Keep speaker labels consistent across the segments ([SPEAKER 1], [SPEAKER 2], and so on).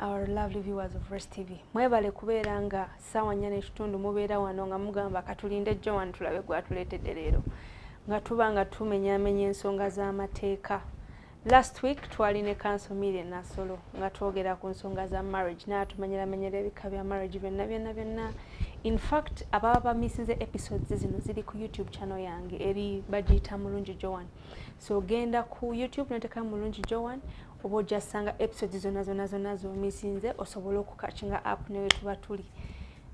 [SPEAKER 1] Our lovely viewers of Rest TV. Mwebale kubeera nga ssaawa nnya n'ekitundu mubeera wano nga mugamba katulinde Joan tulabe gwatuleetedde leero nga tuba nga tumenyaamenya ensonga z'amateeka. Last week twali ne kanso Mire Nasolo nga twogera ku nsonga za marriage naatumenyeramenyera ebika bya marriage byonna byonna byonna. In fact ababa bamisinze episodes zino ziri ku YouTube channel yange eri bagiyita Mulungi Joan. So genda ku YouTube noteka Mulungi Joan oba ojja sanga episode zona zona zona zomisinze osobola okukakinga app newe tuba tuli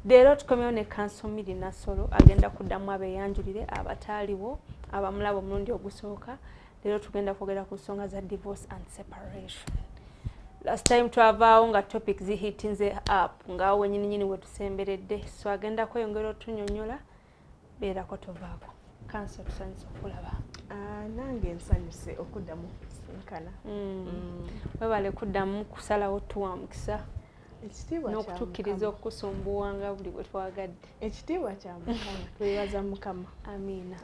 [SPEAKER 1] leero tukomewo ne kansomiri nasolo agenda kuddamu abeyanjulire abataaliwo abamulaba omulundi ogusooka leero tugenda kwogera ku nsonga za divorce and separation last time twavaawo nga topic zihitinze app ngaawo wenyininyini wetusemberedde so agenda kweyongera otunyonyola beerako tovaako kansi otusanyusa okulaba ah, nange
[SPEAKER 2] nsanyuse okuddamu sinkana mm. mm.
[SPEAKER 1] webale kuddamu kusalawo tuwa mukisa
[SPEAKER 2] n'okutukkiriza
[SPEAKER 1] okukusumbuwa nga buli bwe twagadde ekitiibwa kya
[SPEAKER 2] mukama twebaza mukama amiina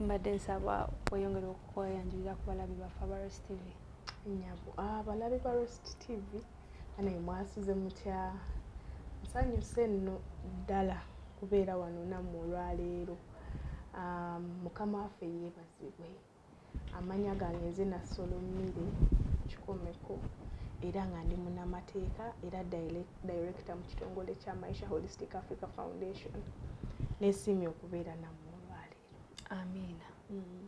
[SPEAKER 1] mbadde nsaba weyongere okukoyanjulira ku balabi baffe abarostv nyabo
[SPEAKER 2] abalabi ah, barostv ane mwasuze mutya nsanyuse nno ddala kubeera wano nammwe olwaleero um, mukama waffe yeebazibwe amanya gange nze nasolomire kikomeko era nga ndi munamateeka era director mu kitongole kya maisha holistic africa foundation nesiimye okubeera nammwe olwaleero amiina mm.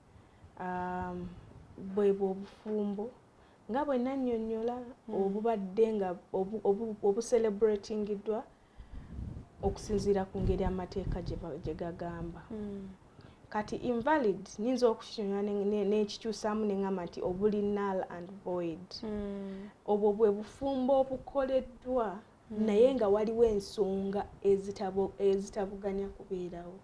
[SPEAKER 2] um, bwe bwobufumbo nga bwe nannyonnyola hmm. obubadde nga obucelebratingiddwa okusinziira ku ngeri amateeka gye gagamba hmm. kati invalid nyinza okukinyonyola n'ekikyusaamu ne ŋŋamba nti obuli null and void hmm. obwo bwe bufumbo obukoleddwa mm. naye nga waliwo ensonga ezitabuganya kubeerawo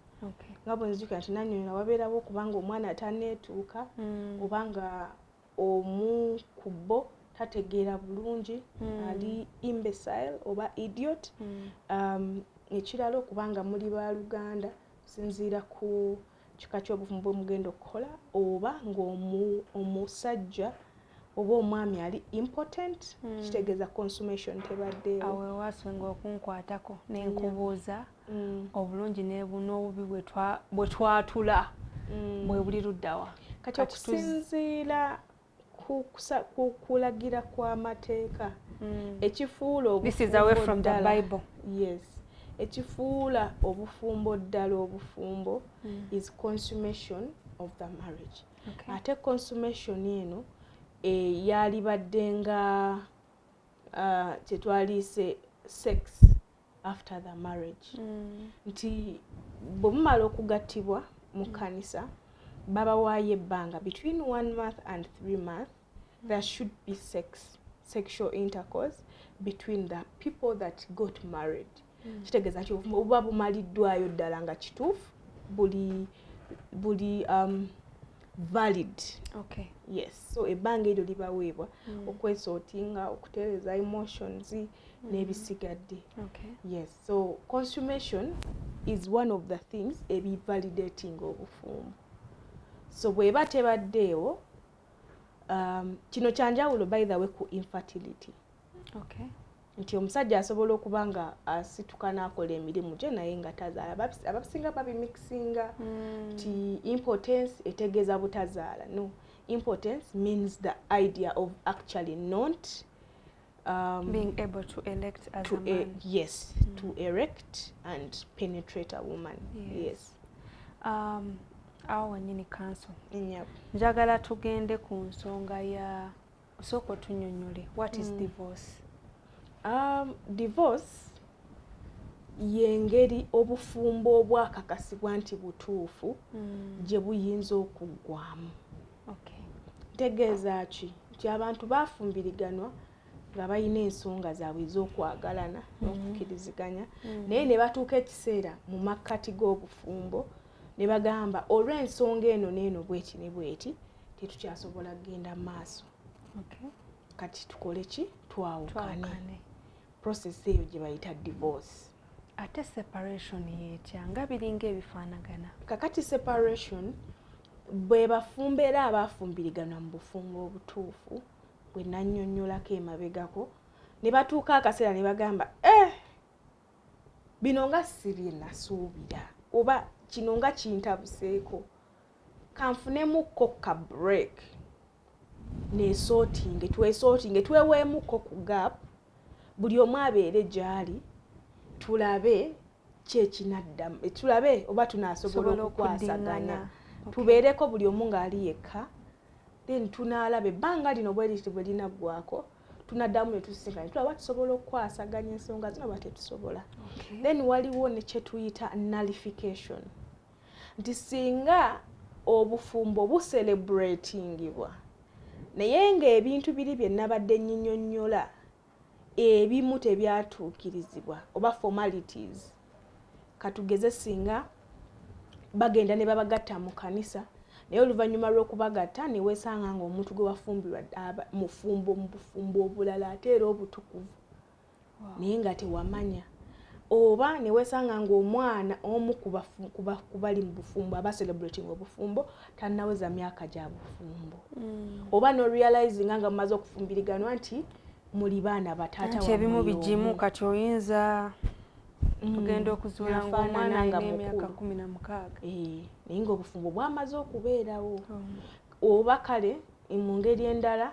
[SPEAKER 2] nga bwenzijukira nti nanyonyola wabeerawo okubanga omwana ataneetuuka mm. oba nga omu ku bo tategeera bulungi mm. ali imbecile oba idiot um, ekirala okubanga muli baluganda kusinziira ku uh, kika kyobuvumu bwemugenda okukola oba ngaomusajja oba omwami ali important mm. kitegeeza consumation tebaddeawewasinga
[SPEAKER 1] okunkwatako nenkubuuza mm. obulungi n'obubi bwetwatula mm. bwebuli luddawa kati
[SPEAKER 2] okusinziira kulagira kw'amateeka hmm. ekifuula obufumbo
[SPEAKER 1] yes
[SPEAKER 2] ekifuula obufumbo ddala obufumbo hmm. is consummation of the marriage ate consummation eno eh, yalibadde nga ah, kyetwaliise sex after the marriage mm. nti bwe mumala okugattibwa mu mm. kkanisa babawaayo ebbanga between one month and three month mm. there should be sex sexual intercourse between the people that got married mm. kitegeeza nti obuba bumaliddwayo ddala nga kituufu buli buli um, valid okay.
[SPEAKER 1] yes so
[SPEAKER 2] ebbanga eryo libaweebwa mm. okwesootinga okutereeza emotions n'ebisigadde okay. yes
[SPEAKER 1] so
[SPEAKER 2] consummation is one of the things ebivalidating obufumbo so bweba tebaddeewo um, kino kyanjawulo by the way ku infertility
[SPEAKER 1] okay. nti omusajja
[SPEAKER 2] asobola okuba nga asituka n'akola emirimu gye naye nga tazaala abasinga babimikisinga hmm. nti mm. impotence etegeeza butazaala no impotence means the idea of actually not
[SPEAKER 1] um, being able to elect as to a man. A, yes, mm. to
[SPEAKER 2] erect and penetrate a woman. Yes. yes. Um, awo wenyini kanso
[SPEAKER 1] yep. njagala
[SPEAKER 2] tugende
[SPEAKER 1] ku nsonga ya osooka otunyonyole what is mm. divorce um, divorce
[SPEAKER 2] yengeri obufumbo obwakakasibwa nti butuufu mm. gye buyinza okuggwamu okay. tegeeza
[SPEAKER 1] ki
[SPEAKER 2] nti abantu bafumbiriganwa nga balina ensonga zaabwe ez'okwagalana mm-hmm. n'okukkiriziganya mm-hmm. naye ne batuuka ekiseera mu makkati g'obufumbo ne bagamba olw'ensonga eno n'eno bweti ne bweti tetukyasobola kugenda mu maaso kati tukole ki twawukane process eyo gye bayita divorce ate
[SPEAKER 1] separation yetya nga biringa ebifaanagana kakati separation
[SPEAKER 2] bwe bafumbeera abaafumbiriganwa mu bufumbo obutuufu bwe nannyonnyolako emabegako ne batuuka akaseera ne bagamba eh bino nga si bye nasuubira oba kino nga kintabuseeko kanfunemukko ka break neesootinge tweesootinge tweweemuko ku gap buli omu abeere gy'ali tulabe kyekinaddamu eh, tulabe oba tunaasobola okukwasaganya tubeereko buli omu ng'ali yekka then tunaalaba ebbanga lino bweriti bwe linaggwako tunaddamu ne tusisinkana tulaba tusobola okukwasaganya ensonga zino oba tetusobola then waliwo ne kye tuyita nullification nti singa obufumbo buselebratingibwa naye ng'ebintu biri bye nabadde nyinyonnyola ebimu tebyatuukirizibwa oba formalities katugeze singa bagenda ne babagatta mu kanisa naye oluvannyuma lw'okubagatta ne weesanga ng'omuntu gwe wafumbirwa mufumbo mu bufumbo obulala ate era obutukuvu naye nga tewamanya oba newesanga ngaomwana omu kubali mu bufumbo aba celebrating obufumbo tanaweza myaka gya bufumbo mm. oba norealizinga nga mumaze okufumbiriganwa nti muli baana bataataebimu bigimu
[SPEAKER 1] kati oyinza mm. ogenda okuzuula ngaomwana nga emyaka kumi na mukaaga eh, naye
[SPEAKER 2] ngaobufumbo bwamaze okubeerawo oh. oba kale mu ngeri endala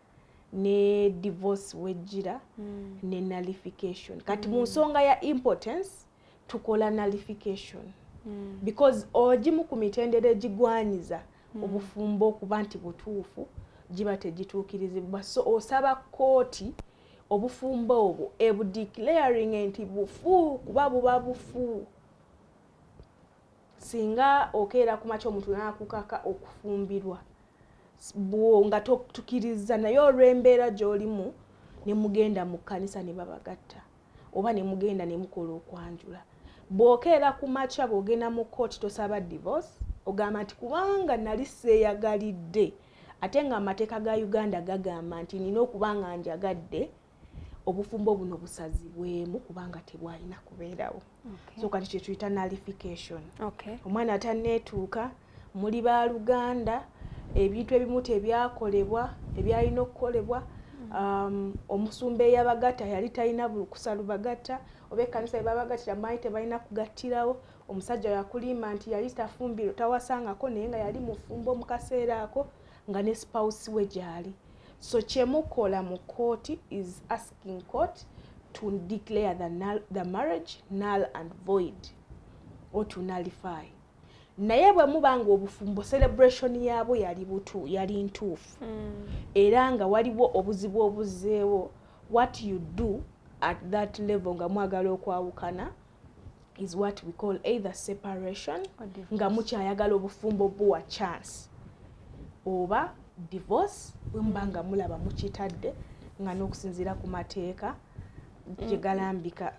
[SPEAKER 2] ne divorce wejjira mm. ne nullification kati mm. mu nsonga ya impotence tukola nullification mm. because ogimu ku mitendera egigwanyiza mm. obufumbo okuba nti butuufu giba tegituukirizibwa so osaba kkooti obufumbo obwo ebudeclaring nti bufu kuba buba bufu singa okeera ku makya omuntu n'akukaka okufumbirwa bwo nga tukirizza naye olw'embeera gy'olimu ne mugenda mu kkanisa ne babagatta oba ne mugenda ne mukola okwanjula bw'okeera ku makya bw'ogenda mu kkooti tosaba divorce ogamba nti kubanga nali seeyagalidde ate ng'amateeka ga uganda gagamba nti nina okuba nga njagadde obufumbo buno busazibwemu kubanga tebwalina kubeerawo okay. so kati kyetuyita nalification okay. omwana ataneetuuka muli baluganda ebintu ebimu tebyakolebwa ebyalina okukolebwa um, omusumba eyabagatta yali talina bulukusa lubagatta oba ekkanisa yebabagattira manyi tebalina kugattirawo omusajja yakulimba nti yali tafumbiro tawasangako naye nga yali mufumbo mu kaseera ako nga ne spouse we gyali so kyemukola mu kooti is asking court to declare the, null, the marriage null and void or to nullify naye bwe muba nga obufumbo celebration yaabwo yali butu yali ntuufu mm. era nga waliwo obuzibu obuzeewo what you do at that level nga mwagala okwawukana is what we call either separation nga mukyayagala obufumbo buwa chance oba divorce bwemuba nga mulaba mukitadde nga n'okusinziira ku mateeka mm. gyegalambika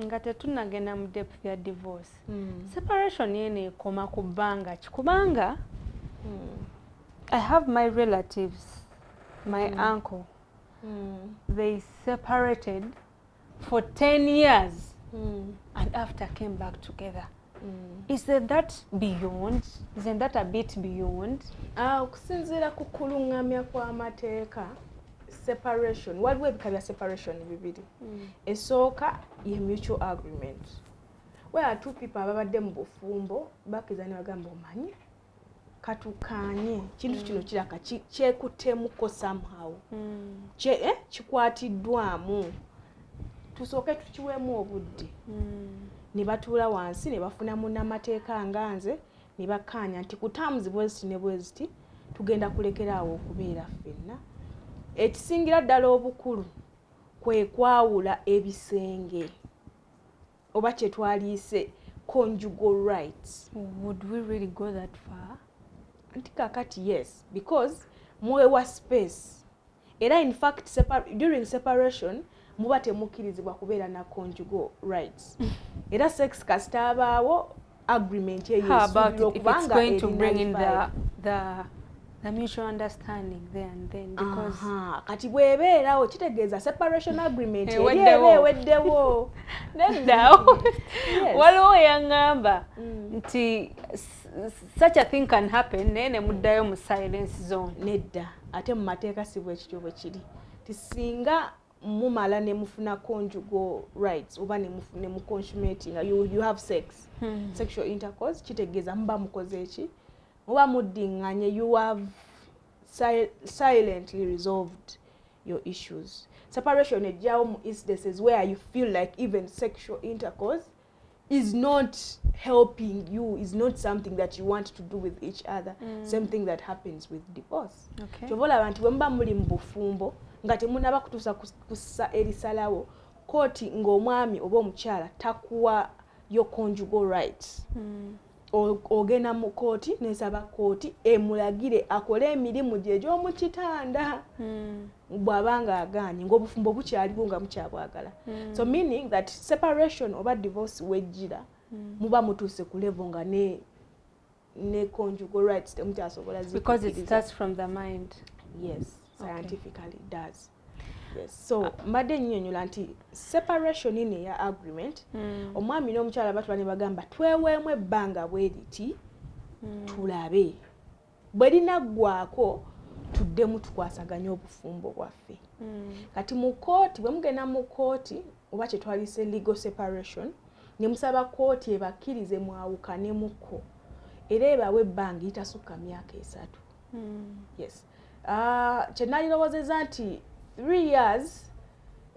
[SPEAKER 2] nga
[SPEAKER 1] tetunagenda mu depth ya divorce mm. separation eno ekoma ku bbanga ki kubanga mm. i have my relatives my mm. uncle mm. they separated for 10 years mm. and after came back together mm. is that beyond isn't that a bit beyond ah, okusinziira
[SPEAKER 2] ku kulungamya kw'amateeka separation waliwo ebika bya separation bibiri mm. esooka ye mutual agreement where two people ababadde mu bufumbo bakkiriza ne bagamba omanyi katukaanye kintu kino kiraka kyekuttemuko somehow hmm. eh, kikwatiddwamu tusooke tukiweemu obudde hmm. ne batuula wansi ne bafuna munamateeka nga nze ne bakkaanya nti kutaamuzi bweziti ne bweziti tugenda kulekera awo okubeera ffenna ekisingira ddala obukulu kwe kwawula ebisenge oba kyetwaliise conjugal rights would we really
[SPEAKER 1] go that far nti
[SPEAKER 2] kakati yes because mwewa space era in fact separ during separation muba temukkirizibwa kubeera na conjugal rights era sex kasitaabaawo agreement eyo esuubirwa okubanga
[SPEAKER 1] erina the mutual understanding there and then because Aha, kati
[SPEAKER 2] bwebeerawo kitegeeza separation mm. agreement eh, erieba eweddewo neddawo
[SPEAKER 1] waliwo yaŋŋamba mm. nti such a thing can happen naye ne muddayo mu silence zone nedda ate mu
[SPEAKER 2] mateeka si bwekityo bwe kiri ti singa mumala ne mufuna conjugal rights oba ne mufune mu consumating you, you have sex hmm. sexual intercourse kitegeeza muba mukoze eki muba muddinganye you have si silently resolved your issues separation ejjawo mu instances where you feel like even sexual intercourse is not helping you is not something that you want to do with each other mm. same thing that happens with divorce okay. kyobola abantu bwemuba muli mu bufumbo nga temunaba kutuusa kusa erisalawo kooti ng'omwami oba omukyala takuwa your conjugal rights mm. ogenda mu kooti nesaba kooti emulagire akole emirimu gye egy'omu kitanda hmm. bw'aba nga agaanye ng'obufumbo bukyaliwo nga mukyabwagala hmm. so meaning that separation oba divorce wejjira hmm. muba mutuuse ku levo nga ne ne conjugal rights temukyasobola because it starts from the
[SPEAKER 1] mind yes
[SPEAKER 2] scientifically does so mbadde enyinyonyola nti separation in eya agreement hmm. omwami n'omukyala batula ne bagamba tweweemu ebbanga bweriti hmm. tulabe bwe linaggwako tuddemu tukwasaganye obufumbo bwaffe hmm. kati mu kooti bwe mugenda mu kooti oba kyetwalise legal separation ne musaba kooti ebakkirize mwawukanemuko era ebawe ebbanga itasukka myaka esatu yes Ah, kye nalirowozeza nti three years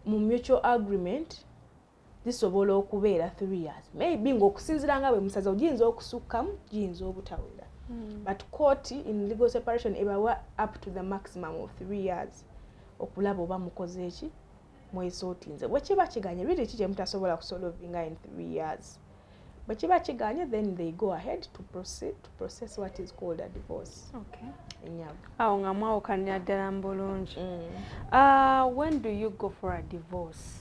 [SPEAKER 2] mu mutual agreement zisobola okubeera three years maybe ngaokusinzira nga bwe musaza ogiyinza okusukkamu giyinza obutawera hmm. but court in legal separation ebawa up to the maximum of three years okulaba oba mukoze eki mwezi otinze bwekiba kiganye really ki kyemutasobola kusolovinga in three years bwekiba kiganye then they go ahead to process, to process what is called a divorce okay.
[SPEAKER 1] awo
[SPEAKER 2] nga mwawukanira
[SPEAKER 1] ddala mu bulungi mm. uh, when do you go for a divorce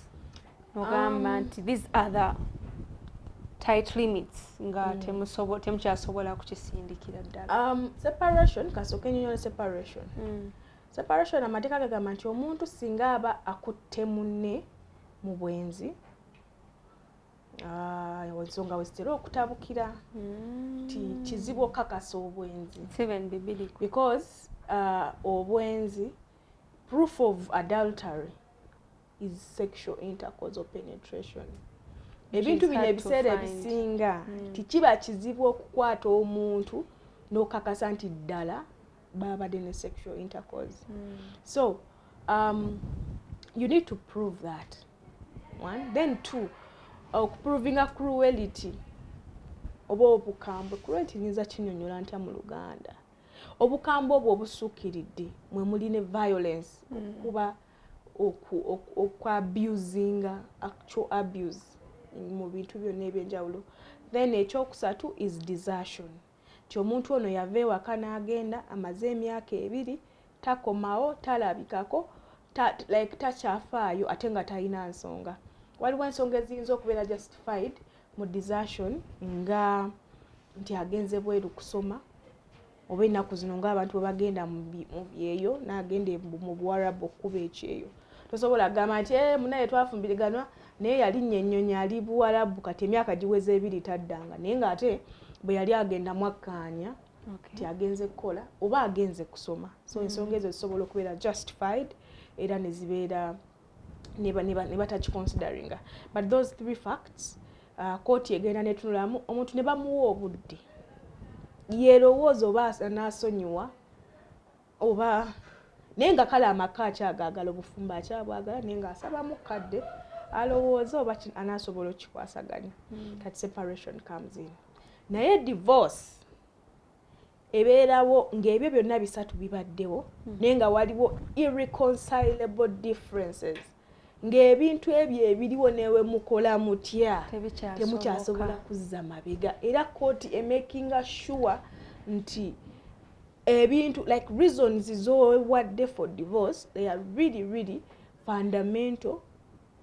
[SPEAKER 1] nogamba um, nti these other tight limits nga mm. temusobo temukyasobola kukisindikira ddala um, separation kasooka
[SPEAKER 2] enyonyola separation mm. Separation amateeka gagamba nti omuntu singa aba akutte munne mu bwenzi ah, ensonga wezitera okutabukira hmm. ti kizibu okukakasa obwenzi because uh, obwenzi proof of adultery is sexual intercourse or penetration ebintu bino ebiseera ebisinga hmm. tikiba kizibu okukwata omuntu n'okakasa nti ddala babadde ne sexual intercourse hmm. so um, you need to prove that one then two okuprovinga uh, cruelity oba obukambwe cruelity nyinza kinyonyola ntya mu luganda obukambwe obwo obusukkiridde mwe muli ne violence hmm. okuba mm. okwabusinga actual abuse mu bintu byonna ebyenjawulo then ekyokusatu is desertion nti omuntu ono yava ewaka n'agenda amaze emyaka ebiri takomawo talabikako ta, like takyafaayo ate nga talina nsonga waliwo ensonga eziyinza okubeera justified mu desertion nga nti agenze bweru kusoma oba ennaku zino ng'abantu bwe bagenda mu byeyo n'agenda mu buwarabu okukuba ekyeyo tosobola kugamba nti eh, munaye twafumbiriganwa naye yalinnya ennyonyi ali buwarabu kati emyaka giweza ebiri taddanga naye ng'ate bwe yali agenda mwakkaanya nti agenze kukola oba agenze kusoma so mm. ensonga ezo zisobola okubeera justified era ne zibeera nebatakiconsideringa but those three facts uh, kooti egenda netunulamu omuntu ne bamuwa obudde yerowooza oba anaasonyiwa oba naye nga kale amaka akyagaagala obufumbo akyabwagala naye nga asabamu kadde alowooza oba anaasobola okukikwasaganya hmm. kati separation comes in naye divorce ebeerawo ng'ebyo byonna bisatu bibaddewo hmm. naye nga waliwo irreconcilable differences ng'ebintu ebyo ebiriwo newe mukola mutya temukyasobola kuzza mabega era kooti emakinga sure nti ebintu like reasons zowadde for divorce they are really really fundamental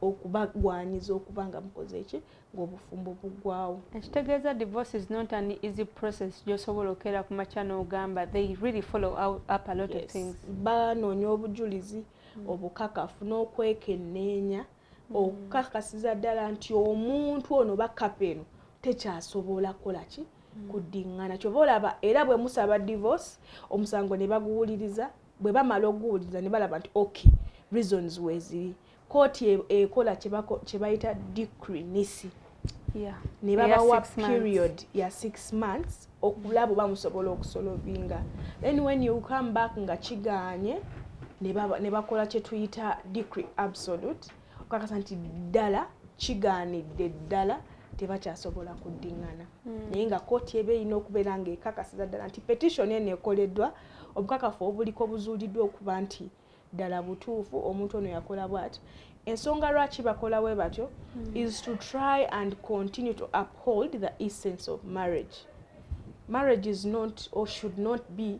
[SPEAKER 2] okubagwanyiza okuba nga mukoze eki ngaobufumbo bugwawo ekitegeeza divorce
[SPEAKER 1] is not an easy process gyosobola okeera ku makya n'ogamba they really follow up a lot yes. of things banoonya
[SPEAKER 2] obujulizi mm. obukakafu n'okwekenneenya mm. okukakasiza ddala nti omuntu ono bakapa eno tekyasobola kukola ki mm. kuddingana kyova olaba era bwe musaba divorce omusango ne baguwuliriza bwe bamala okuguwuliriza ne balaba nti ok reasons weeziri kooti e, ekola kye bayita decree nisi ne babawa period ya six months okulaba oba musobola okusolovinga then when you come back nga kigaanye ne bakola kye tuyita decree absolute okakasa nti ddala kigaanidde ddala tebakyasobola kuddingana hmm. naye nga kooti eba erina okubeera nga ekakasiza ddala nti petitioni eno ekoleddwa obukakafu obuliko buzuuliddwa okuba nti ddala butuufu omuntu ono yakola bwati ensonga lwaki bakola we batyo hmm. is to try and continue to uphold the essence of marriage marriage is not or should not be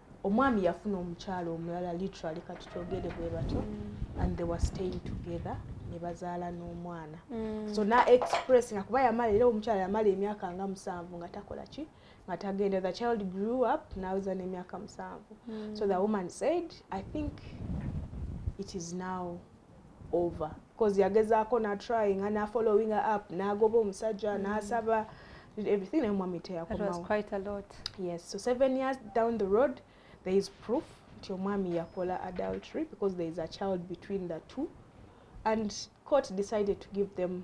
[SPEAKER 2] omwami yafuna omukyalo omulala literally kati kyogere bwe batyo mm. and they were staying together ne bazaala n'omwana mm. so na express nga kuba yamala era omukyala yamala emyaka nga musanvu nga takola ki nga tagenda the child grew up naweza n'emyaka musanvu mm. so the woman said i think it is now over cause yagezaako na trying and na following up nagoba omusajja mm. nasaba everything naye omwami teyakomawo
[SPEAKER 1] yes so seven
[SPEAKER 2] years down the road there is proof nti omwami yakola adultery because there is a child between the two and court decided to give them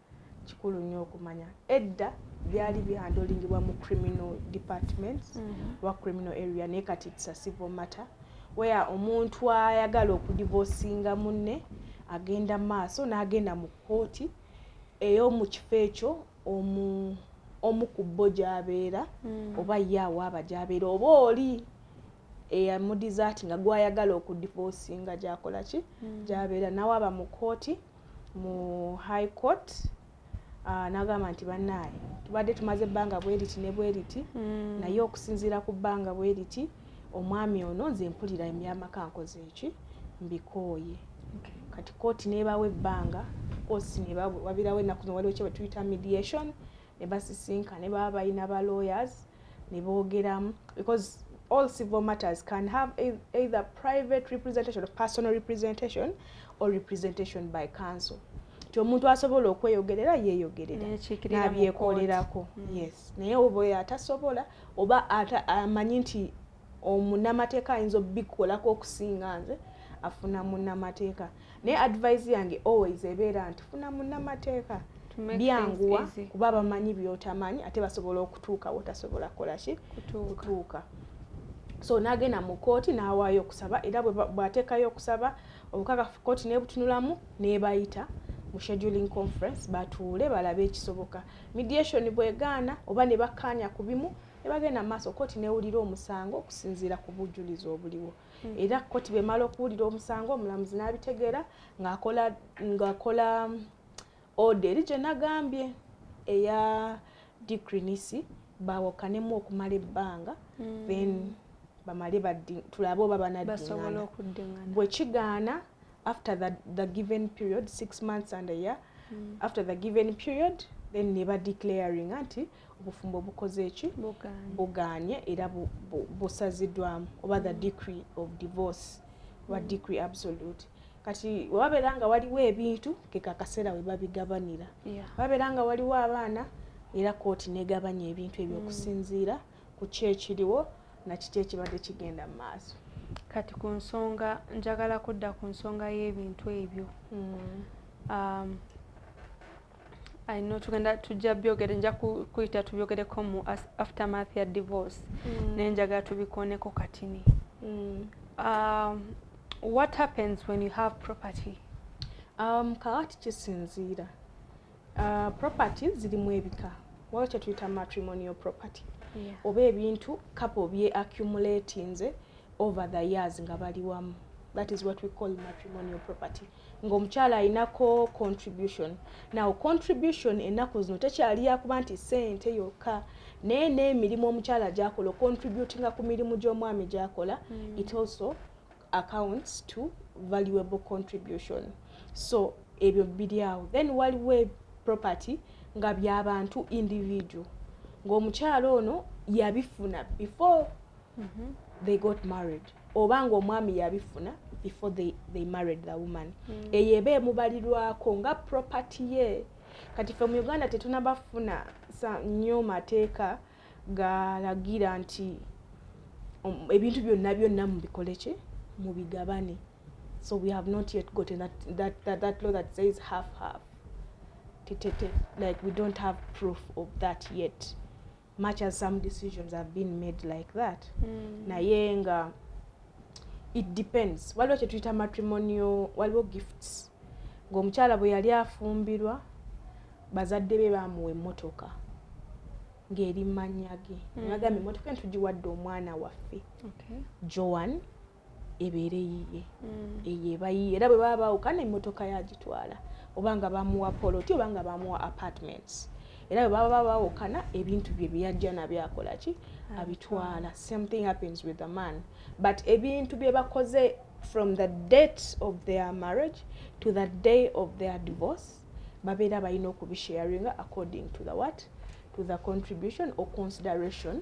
[SPEAKER 2] kikulu nnyo okumanya edda byali bihandolingibwa mu criminal departments mm -hmm. wa criminal area naye kati it's a civil matter where omuntu ayagala okudivosinga munne agenda maaso n'agenda mu kkooti ey'omu kifo ekyo omu omu ku bo gy'abeera mm. oba ye awaaba gy'abeera oba oli eyamudizaati nga gwayagala okudivosinga gyakola ki mm. gy'abeera nawaaba mu kkooti mu high court ah, nagamba nti bannaaye tubadde tumaze ebbanga bweriti ne bweriti mm. naye okusinziira ku bbanga bweriti omwami ono nze mpulira emyamaka nkoze eki mbikooye kati kooti nebawa ebbanga kosi nebawabirawo ennaku waliwo kyebetuyita mediation ne basisinkana ne baba balina ba lawyers ne boogeramu because all civil matters can have either private representation or personal representation or representation by council nti omuntu asobola okweyogerera yeeyogerera nabyekolerako hmm. yes naye oba oyo atasobola oba amanyi nti omunamateeka ayinza obikolako okusinga nze afuna munamateeka naye advise yange always ebeera nti funa munamateeka byanguwa kuba bamanyi byotamanyi ate basobola okutuuka wotasobola kukolaki kutuuka so nagenda mu kooti nawaayo okusaba era bwateekayo okusaba obukakafu kooti nebutunulamu nebayita mu scheduling conference batuule balabe ekisoboka mediation bwegaana oba nebakkaanya ku bimu ne bagenda mu maaso kkooti n'ewulira omusango okusinziira ku bujjulizi obuliwo hmm. era kkooti bwemala okuwulira omusango omulamuzi n'abitegeera ng'akola ng'akola mm, oda eri gye nagambye eya dikrinisi bawokanemu okumala ebbanga hmm. then bamale tulabe oba banadingana bwe kigaana after the, the given period six months and a year mm. after the given period then ne badeclaringa nti obufumbo bukoze eki buganye era busazidwamu oba the mm. decree of divorce oba mm. decree absolute kati wababeera nga waliwo ebintu kekakaseera webabigabanira wababeera nga waliwo abaana era kooti negabanya ebintu ebyo mm. okusinziira ku ki ekiriwo nakiki ekibadde kigenda mu maaso kati ku
[SPEAKER 1] nsonga njagala kudda ku nsonga y'ebintu ebyo um, I know tugenda tujja byogere nja kuyita tubyogereko mu aftermath ya divorce mm. naye njagala tubikoneko katini mm. um, what happens when you have property um,
[SPEAKER 2] kakati kisinziira uh, property zirimu ebika waliwo kyetuyita matrimonial property yeah. oba ebintu kapo bye accumulatinze over the years nga bali wamu that is what we call matrimonial property ng'omukyala alinako contribution naw contribution ennaku zino tekyali yakuba nti sente yokka naye n'emirimu omukyala gyakola ocontributinga ku mirimu gy'omwami gyakola mm. it also accounts to valuable contribution so ebyo biri awo then waliwo e property nga byabantu individual ng'omukyala ono yabifuna before mm-hmm. they got married oba nga omwami yabifuna before they, they married the woman mm. eyo eba emubalirwako nga property ye kati fe mu uganda tetunabafuna nyo mateeka galagira nti um, ebintu byonna byonna mubikoleki mubigabane so we have not yet gotten that, that, that, that law that says half half titete like we don't have proof of that yet much as some decisions have been made like that mm. naye nga it depends waliwo kyetuyita matrimonio waliwo gifts ngaomukyala bwe yali afumbirwa bazadde be bamuwa emmotoka ng'eri manya ge mm. nagamba emmotoka entugiwadde omwana waffe okay. joan ebeere yiye mm. eyo eba yiye era bwe baba baawukana emmotoka yagitwala oba nga bamuwa poloti oba nga bamuwa apartments era bwe baba baawukana ebintu bye byeyajja nabyo akola ki abitwala same thing happens with the man but ebintu bye bakoze from the date of their marriage to the day of their divorce babeera balina okubisharinga according to the what to the contribution or consideration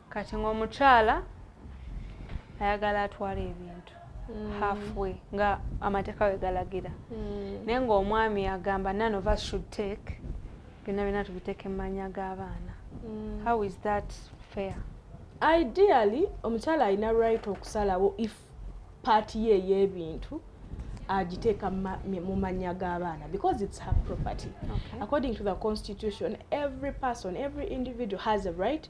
[SPEAKER 1] kati ng'omukyala ayagala atwala ebintu mm. halfway nga amateeka we galagira mm. naye ng'omwami agamba none of us should take byonna byonna tubiteeka emmanya g'abaana mm. how is that fair ideally
[SPEAKER 2] omukyala alina right okusalawo if paati ye ey'ebintu agiteeka mu mannya g'abaana because it's her property okay. according to the constitution every person every individual has a right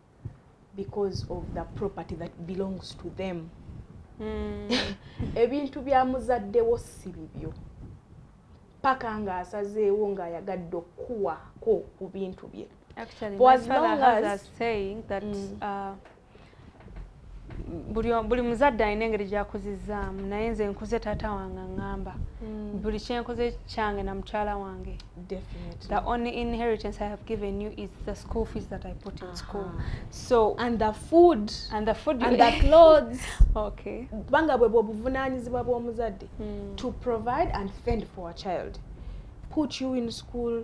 [SPEAKER 2] because of the property that belongs to them hmm. ebintu bya muzaddewo si bibyo paka ng'asazeewo ng'ayagadde okukuwaako ku bintu bye Actually, my
[SPEAKER 1] father has
[SPEAKER 2] a saying
[SPEAKER 1] that
[SPEAKER 2] mm.
[SPEAKER 1] uh, buli muzadde alina engeri gyakuzizaamu naye nze nkuze taata wange aŋamba hmm. buli kyenkoze kyange na mukyala wange the
[SPEAKER 2] only inheritance
[SPEAKER 1] i have given you is the school fees that i put in school so and the food
[SPEAKER 2] and the food and the
[SPEAKER 1] clothes
[SPEAKER 2] okay
[SPEAKER 1] kubanga bwe
[SPEAKER 2] bwobuvunanyizibwa bw'omuzadde hmm. to provide and fend for a child put you in school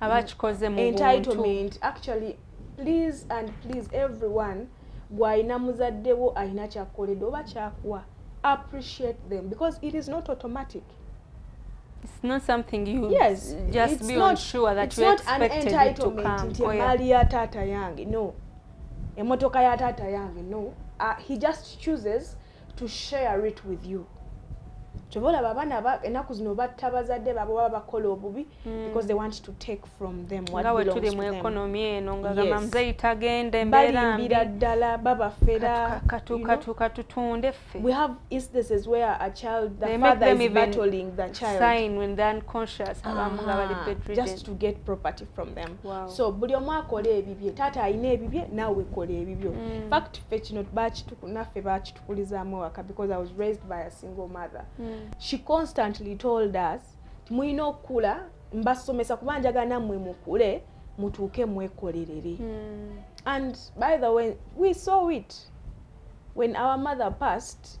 [SPEAKER 1] abakikoze mu entitlement actually
[SPEAKER 2] please and please everyone gwalina muzadde wo alina kyakukoledde oba kyakuwa appreciate them because it is not automatic
[SPEAKER 1] it's not something you yes, just be not, sure
[SPEAKER 2] that you
[SPEAKER 1] expected it to come nti emaali ya taata
[SPEAKER 2] yange no emotoka ya taata yange no uh, he just chooses to share it with you kyova olaba abaana enaku zino batta bazadde babo baba bakola obubi hmm. because they want to take from them nga wetuli mu ekonomi eno
[SPEAKER 1] ngagamba muzeyi tagenda embeerabalimbira ddala
[SPEAKER 2] babafera katuka
[SPEAKER 1] tutunde ffe we have instances
[SPEAKER 2] where a child the father is battling the child sign when they're unconscious
[SPEAKER 1] abamu nga bali bedridden just to get property
[SPEAKER 2] from them so buli omu
[SPEAKER 1] akola
[SPEAKER 2] ebibye taata alina ebibye naawe kola ebibyo hmm. fact ffe kino naffe bakitukulizaamu ewaka because i was raised by a single mother mm. she constantly told us mulina okukula mbasomesa kuba njagala nammwe mukule mutuuke mwekolerere mm. and by the way we saw it when our mother passed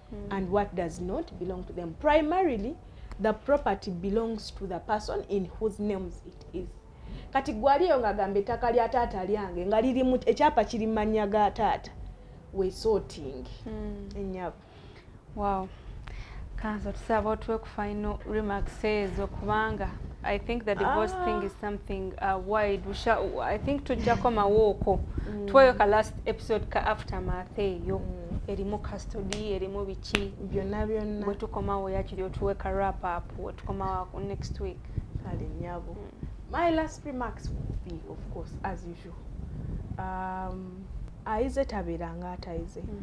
[SPEAKER 2] mm. and what does not belong to them primarily the property belongs to the person in whose names it is kati gwaliyo nga gamba ettaka lya taata lyange nga liri mu ekyapa kiri manya ga taata we sorting mm. enyabo wow
[SPEAKER 1] kanza tusaba otwe Final remarks ezo kubanga I think the divorce ah. thing is something uh, wide we shall, I think tujja komawo okwo mm. twayo ka last episode ka aftermath eyo mm. erimu custody erimu biki byonna byonna bwe
[SPEAKER 2] tukomawo
[SPEAKER 1] yakiri otuwe ka wrap up we tukomawo next week kale nyabo
[SPEAKER 2] mm. my last remarks would be of course as usual um, ayize tabeeranga atayize mm.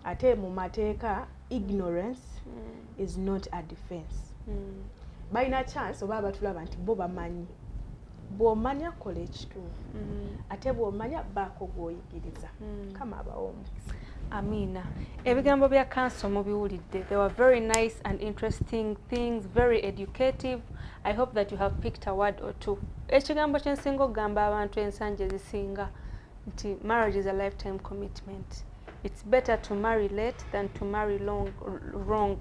[SPEAKER 2] ate mu mateeka ignorance mm. is not a defense mm. balina chance oba abatulaba nti bo bamanyi bwomanya kola ekituufu mm. ate bwomanya baako gwoyigiriza mm. kama abawo omukisa amiina
[SPEAKER 1] ebigambo bya kanso mubiwulidde they were very nice and interesting things very educative i hope that you have picked a word or two ekigambo kyensinga okugamba abantu ensangi ezisinga nti marriage is a lifetime commitment it's better to marry late than to marry long, wrong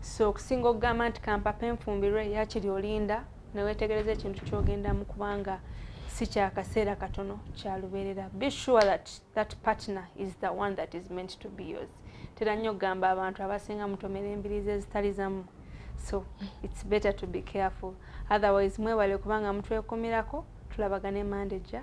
[SPEAKER 1] so okusinga okugamba nti kampapa enfumbirwe yakiri olinda newetegereza ekintu kyogendamu kubanga si kyakaseera katono kyalubeerera be sure that that partner is the one that is meant to be yours tera nnyo okugamba abantu abasinga mutomera embirizi ezitali zamu so it's better to be careful otherwise mwebale kubanga mutwekumirako tulabagane mande ja